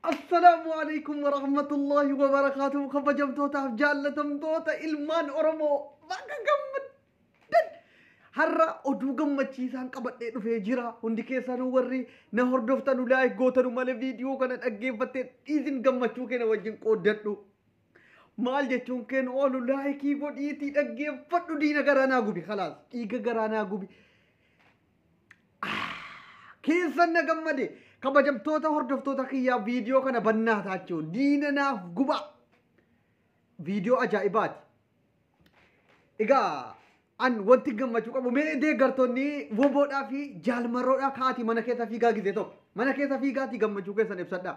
Assalaamu alaikum wa rahmatullahi wa barakaatuhu kabajamtootaaf jaallatamtoota ilmaan Oromoo baga gammaddan. Har'a oduu gammachiisaan qabadhee dhufee jira. Hundi keessanuu warri na hordoftanu laayik gootanu malee viidiyoo kana dhaggeeffattee dhiisin gammachuu keenya wajjin qooddadhu. Maal jechuun keenya oolu laayikii godhiitii dhaggeeffadhu diina garaa naa gubi kalaas dhiiga garaa naa gubi. keessan na gammade kabajamtoota hordoftoota kiyyaa viidiyoo kana bannaa taachoo diina naaf gubaa viidiyoo ajaa'ibaati. Egaa an wanti gammachuu qabu mee deeggartoonni woboodhaa fi jaalmarroodhaa kaati mana keessa fiigaa gizee tokko mana keessa fiigaati gammachuu keessan ibsadhaa.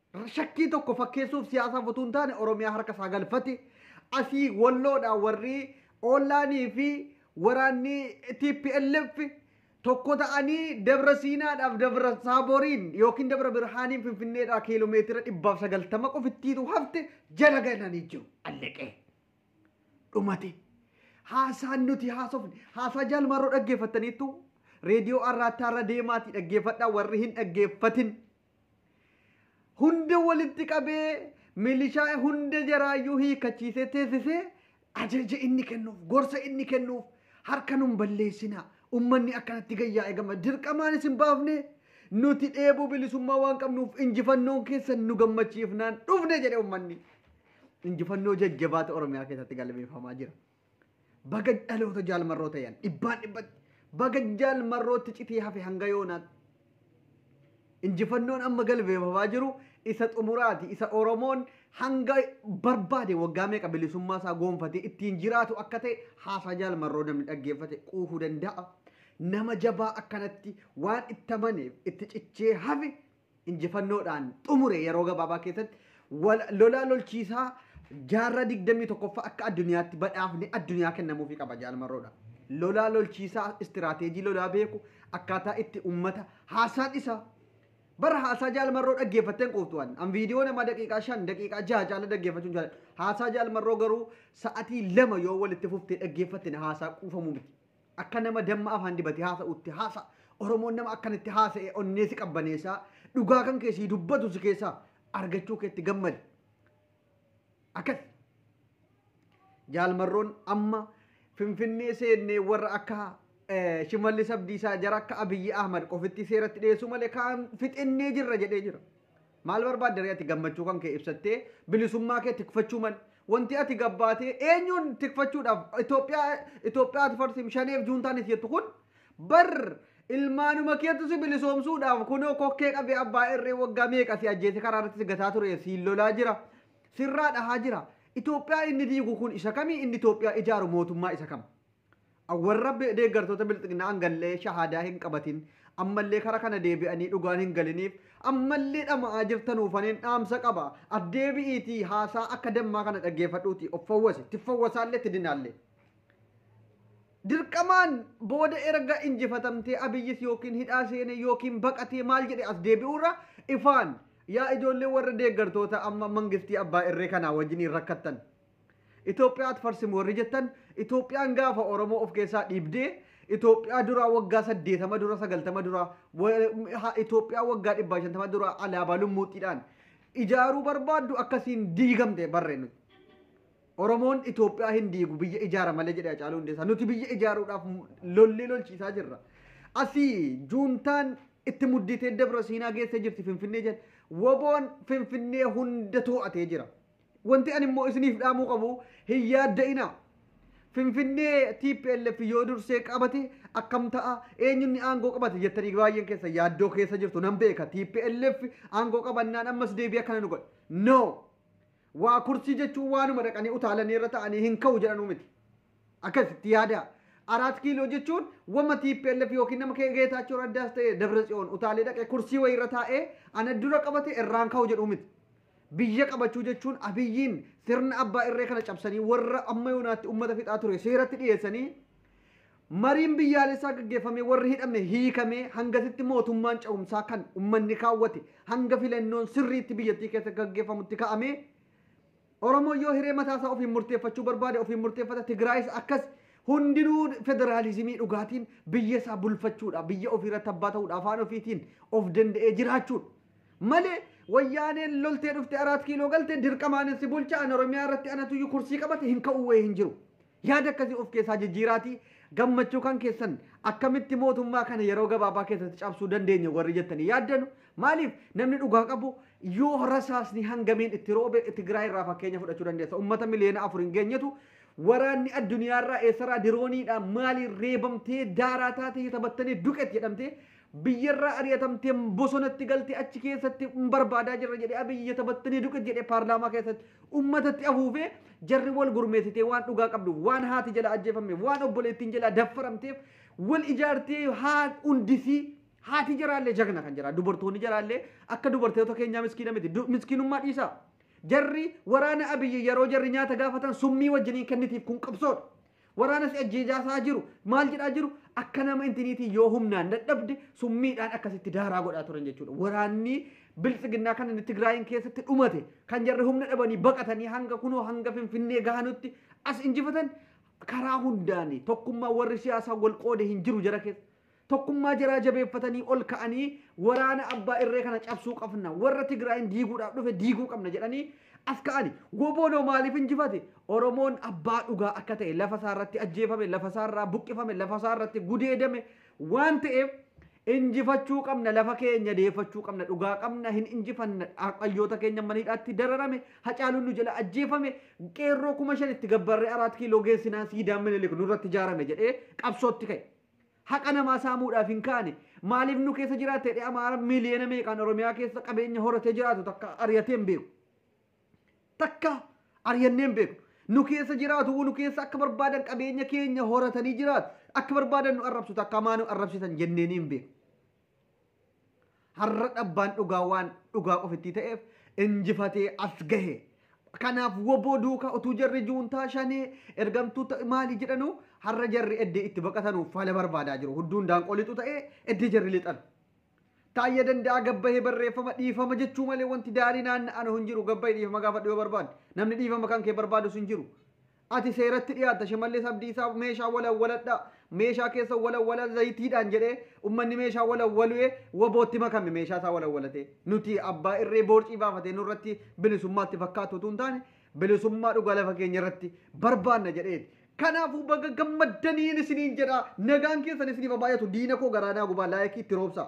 Shakkii tokko fakkeessuuf siyaasaaf utuu hin taane Oromiyaa harka isaa galfate. Asii Walloodhaa warri Ollaanii fi waraanni TPLF tokko ta'anii Dabra Siinaadhaaf Dabra Saaboriin yookiin Dabra Birhaaniin Finfinneedhaa kiiloomeetira dhibbaaf sagaltama qofittiitu hafte jala galanii jiru. Allaqee. Dhumate. Haasaan nuti haasofne. Haasaa jaalmarroo dhaggeeffattaniittu reediyoo arraattaa irra deemaatii dhaggeeffadhaa warri hin dhaggeeffatin hunda walitti qabee milishaa hunda jaraayyuu hiikachiisee teessisee ajaja inni kennuuf gorsa inni kennuuf harka nun balleessinaa ummanni akkanatti gayyaa eegama dirqamaan isin baafne nuti dheebuu bilisummaa waan qabnuuf injifannoon keessan nu gammachiifnaan dhufne jedhe ummanni injifannoo jajjabaata oromiyaa keessatti galmeeffamaa jira. Baga dhaloota jaal marroo ta'an dhibbaan dhibbatti baga jaal marrootti citii hafe hanga yoonaatti. Injifannoon amma galmeeffamaa jiru isa xumuraati isa Oromoon hanga barbaade waggaa meeqa bilisummaa isaa goonfatee ittiin jiraatu akka ta'e haasaa jaal marroo namni dhaggeeffate quufuu danda'a. Nama jabaa akkanatti waan itti amaneef itti cichee hafe injifannoodhaan xumure yeroo gabaabaa keessatti wal- lolaa lolchiisaa jaarraa 21ffaa akka addunyaatti badhaafni addunyaa kennamuufi qaba jaalmarroodha. Lolaa lolchiisaa istiraateejii lolaa beeku akkaataa itti ummata haasaan isaa bara haasaa jaalmarroo dhaggeeffatteen quuftu an an viidiyoo namaa daqiiqaa shan daqiiqaa jaha caala dhaggeeffachuun jaalladha. Haasaa jaalmarroo garuu sa'atii lama yoo walitti fuftee dhaggeeffatte na haasaa quufamu miti. Akka nama damma afaan dibatee haasa'uutti haasa'a. Oromoon nama akkanatti haasa'e onnee si qabbaneessa. Dhugaa kan kee sii dubbatu si keessaa argachuu keetti gammadi. Akkas. Jaalmarroon amma Finfinnee seennee warra akka eh, Shimallis Abdiisaa jara akka Abiyyi Ahmad qofitti seeratti dhiyeessuu malee kaan fixennee jirra jedhee jira. Maal barbaadda ree ati gammachuu kan kee ibsattee bilisummaa kee tikfachuu mal wanti ati gabbaatee eenyuun tikfachuudhaaf Itoophiyaa Itoophiyaa ati farsiim shaneef juuntaanis jettu kun bar ilmaanuma keetu si bilisoomsuudhaaf kunoo kokkee qabee abbaa irree waggaa meeqa si ajjeese karaa irratti si gataa ture si lolaa jira sirraa dhahaa jira Itoophiyaa inni diigu kun isa kamii inni Itoophiyaa ijaaru mootummaa isa kam a Warra deeggartoota Bilxiginnaa hangallee shahaadaa hin qabatin, ammallee kara kana deebi'anii dhugaan hin galiniif, ammallee dhama'aa jirtanuufaniin dhaamsa qaba. Ati deebi'iitii haasaa akka dammaa kana dhaggeeffadhuutii of fawwasi, tiffawwasaallee tiddinaallee. Dirqamaan booda erga injifatamtee Abiyyis yookiin hidhaa seenee yookiin baqatee maal jedhee as deebi'uurra ifaan yaa ijoollee warra deeggartoota amma mangistii abbaa irree kanaa wajjiniin rakkattan, Itoophiyaat farsim warri jettan Itoophiyaan gaafa Oromoo of keessaa dhiibdee Itoophiyaa duraa waggaa saddeetama dura sagaltama dura Itoophiyaa waggaa dhibbaa shantama dura alaabaa lummuuxxiidhaan ijaaruu barbaaddu akkasiin diigamte barre nuti. Oromoon Itoophiyaa hin diigu biyya ijaara malee jedhe Hacaaluu Hundeessaa. Nuti biyya ijaaruudhaaf lollee lolchiisaa jirra. Asii juuntaan itti muddiitee Dabra Siinaa geessee jirti Finfinnee jedhe. Woboon Finfinnee hunda too'atee jira. Wanti ani immoo isiniif dhaamuu qabu hin yaadda'inaa. Finfinnee tplf yoo dursee qabate akkam ta'a eenyunni aangoo qabate jettanii baay'een keessa yaaddoo keessa jirtu nan beeka tplf aangoo qabannaan ammas deebii akkana nu godha. No! Waa kursii jechuun waanuma dhaqanii utaalanii irra ta'anii hin ka'u jedhanuu miti. Akkasitti yaadaa. Araat kiiloo jechuun wama tplf yookiin nama kee geetaachoo raddaas ta'e dabra tsiyoon utaalee dhaqee kursii wayii irra taa'ee ana dura qabate irraan ka'u jedhuu miti. Biyya qabachuu jechuun Abiyyiin sirna abbaa irree kana cabsanii warra amma yoonaatti ummata fixaa ture seeratti dhiyeessanii mariin biyyaalessaa gaggeeffamee warri hidhame hiikamee hangasitti mootummaan ce'umsaa kan ummanni kaawwate hanga filannoon sirriitti biyyattii keessa gaggeeffamutti ka'amee Oromoon yoo hiree mataa isaa ofiin murteeffachuu barbaade ofiin murteeffata Tigraayis akkas hundinuu federaalizimii dhugaatiin biyya isaa bulfachuudha biyya ofiirratti abbaa ta'uudha afaan ofiitiin of danda'ee jiraachuudha. Malee wayyaaneen loltee dhufte araat kiiloo galte dirqama anan si bulcha an oromiyaa irratti anatuyyu kursii qabate hin ka'uu wayee hin jiru. Yaada akkasii of keessaa jijjiiraatii gammachuu kan keessan akkamitti mootummaa kana yeroo gabaabaa keessatti cabsuu dandeenya warri jettanii yaaddanu maaliif namni dhugaa qabu yoo rasaasni hangamiin itti roobe Tigraay irraa fakkeenya fudhachuu dandeessa. Uummata miliyoona afur hin geenyetu waraanni addunyaarraa eessaraa dirooniidhaan maaliin reebamtee daaraa taatee taphattanii duqet jedhamtee Biyyarraa ari'atamtee bosonatti galtee achi keessatti barbaadaa jirra jedhee Abiy yetabattanii duqit jedhee paarlaamaa keessatti ummatatti afuufee jarri wal gurmeessitee waan dhugaa qabduuf waan haati jala ajjeefammeef waan obboleettiin jalaa daffaramteef wal ijaartee haa hundisii haati jaraallee jagna kan jira dubartoonni jaraallee akka dubartoota keenyaa miskiina miti Du- miskiinummaa dhiisaa jarri waraana abiyyi yeroo jarri nyaata gaafatan summii wajjiniin kennitiif kun qabsoodha Waraana si ajjeejaasaa jiru maal jedhaa jiru akka nama intiniitii yoo humnaan dadhabde summiidhaan akkasitti daaraa godhaa turan jechuudha. Waraanni biltsiginnaa kan inni Tigraayin keessatti dhumate kan jarri humna dhabanii baqatanii hanga kunoo hanga Finfinnee gahanutti as injifatan karaa hundaani tokkummaa warri siyaasaa wal qoode hin jiru jara keessa. Tokkummaa jaraa jabeeffatanii ol ka'anii waraana abbaa irree kana cabsuu qabna. Warra Tigraayin diiguudhaaf dhufe diiguu qabna jedhanii as ka'ani. Woboon hoo maaliif injifate? Oromoon abbaa dhugaa akka ta'e lafa isaa irratti ajjeefame, lafa isaa irraa buqqifame, lafa isaa irratti gudeedame waan ta'eef injifachuu qabna, lafa keenya deeffachuu qabna, dhugaa qabna, hin injifanna, hayyoota keenya mana hidhaatti dararame, hacaaluun nu jala ajjeefame, qeerroo kuma shan itti gabbarree araat kiiloo geessinaan siidaan minilik nurratti ijaarame jedhee qabsootti ka'e. Haqa namaa saamuudhaaf hin kaane. Maaliif nu keessa jiraatta jedhee Amaara miliyoona meeqaan Oromiyaa keessa qabeenya horatee jiraatu takka ariyatee hin beeku. Takka ariyannee hin beeknu. Nu keessa jiraatu nu keessa akka barbaadan qabeenya keenya horatanii jiraatu. Akka barbaadan nu arrabsu takka maa nu arrabsitan jenneenii hin beeknu. Har'a dhabbaan dhugaa waan dhugaa ofittii ta'eef injifatee as gahe. Kanaaf woboo duukaa utuu jarri juuntaa shanee ergamtuu ta'e maali jedhanuu har'a jarri eddee itti baqatanuuf fala barbaadaa jiru. Hudduun daanqoo lixu ta'ee eddee jarri lixan. Taayya danda'aa gabbahee barreeffama dhiifama jechuu malee wanti daarii naanna'anu hin jiru gabbahi dhiifama gaafadhu yoo barbaadde. Namni dhiifama kan kee barbaadus hin jiru. Ati seeratti dhiyaatta Shimallis Abdiisaa meeshaa walawwaladhaa meeshaa keessa walawwalaa zayitiidhaan jedhee ummanni meeshaa walawwaluee wabootti makame meeshaa isaa walawwalatee nuti abbaa irree boorcii baafatee nurratti bilisummaatti fakkaatu utuu hin taane bilisummaa dhugaa lafa keenya irratti barbaanna jedheeti. Kanaafuu baga gammaddaniin isiniin jedhaa nagaan keessan isiniif haa baay'atu diina koo garaa naa gubaa laayikii itti roobsaa.